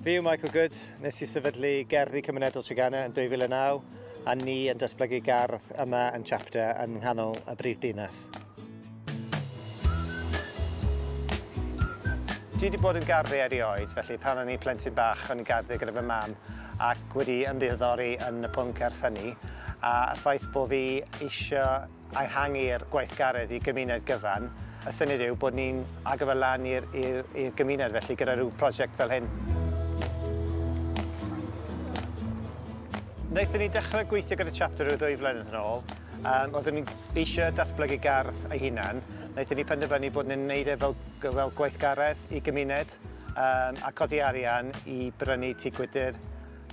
Fi yw Michael Good, nes i sefydlu Gerddi Cymunedol Tregenna yn 2009 a ni yn datblygu gardd yma yn Chapter yn nghanol y brif dinas. Dwi wedi bod yn garddio erioed, felly pan o'n i'n plentyn bach o'n i'n garddio gyda fy mam ac wedi ymddiheddori yn y pwnc ers hynny a y ffaith bod fi eisiau ehangu'r gweithgaredd i gymuned gyfan, y syniad yw bod ni'n agor fe lan i'r i'r i'r gymuned felly gyda rhyw prosiect fel hyn. Wnaethon ni dechrau gweithio gyda Chapter rhyw ddwy flynedd yn ôl. Um, oeddwn ni eisiau datblygu gardd ei hunan. Wnaethon ni penderfynu bod ni'n neud e fel, fel gweithgaredd i gymuned um, a codi arian i brynu tŷ gwydr,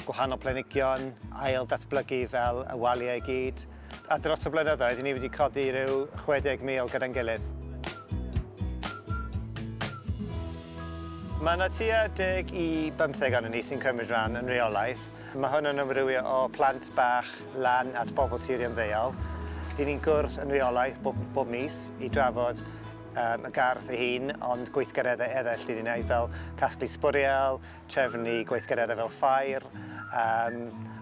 gwahanol plenigion, ail ddatblygu fel y waliau i gyd, a dros y blynyddoedd i ni wedi codi rhyw 60,000 gyda'n gilydd. Mae yna tua deg i bymtheg ohonon ni sy'n cymryd rhan yn reolaidd. Mae hwn yn amrywio o plant bach lan at bobl sirio'n ddeuol. Dyn ni'n gwrdd yn reolaidd bob, bob mis i drafod um, y gardd ei hun, ond gweithgareddau eraill dyn ni'n gwneud fel casglu sbwriel, trefnu gweithgareddau fel ffair um,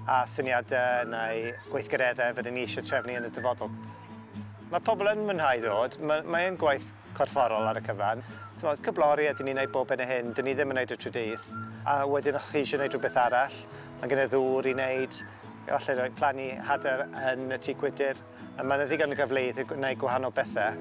a syniadau neu gweithgareddau fydden ni eisiau trefnu yn y dyfodol. Mae pobl yn mwynhau ddod, mae, mae yn gwaith corfforol ar y cyfan. Tymod, cyblori a dyn ni'n gwneud bob yn y hyn, dyn ni ddim yn gwneud y trydydd. A wedyn o'ch chi eisiau gwneud rhywbeth arall, mae gen i ddŵr i wneud, efallai roi plannu hadau yn y tŷ gwydr. A mae yna ddigon o gyfleoedd i gwneud gwahanol bethau.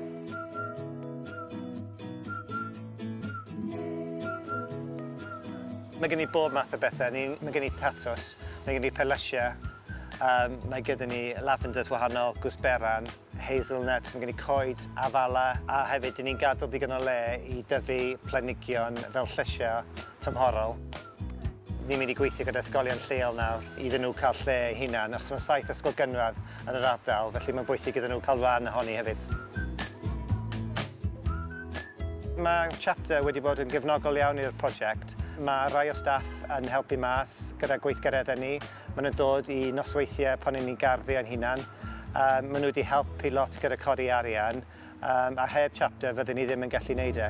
Mae gen i bob math o bethau. Ni, mae gen i tatws, mae gen i perlysiau, um, mae gyda ni lavenders wahanol, gwsberan, hazelnuts, mae gen i coed, afala, a hefyd dyn ni'n gadael digon o le i dyfu planigion fel llysiau tymhorol. Ni'n mynd i gweithio gyda ysgolion lleol nawr iddyn nhw cael lle eu hunain achos mae saith ysgol gynradd yn yr ardal felly mae'n bwysig iddyn nhw cael rhan ohoni hefyd. Mae Chapter wedi bod yn gefnogol iawn i'r prosiect. Mae rhai o staff yn helpu mas gyda gweithgareddau ni. Maen nhw'n dod i nosweithiau pan ni'n ni'n garddio ein hunan. Um, maen nhw wedi helpu lot gyda codi arian um, a heb Chapter fydden ni ddim yn gallu neud e.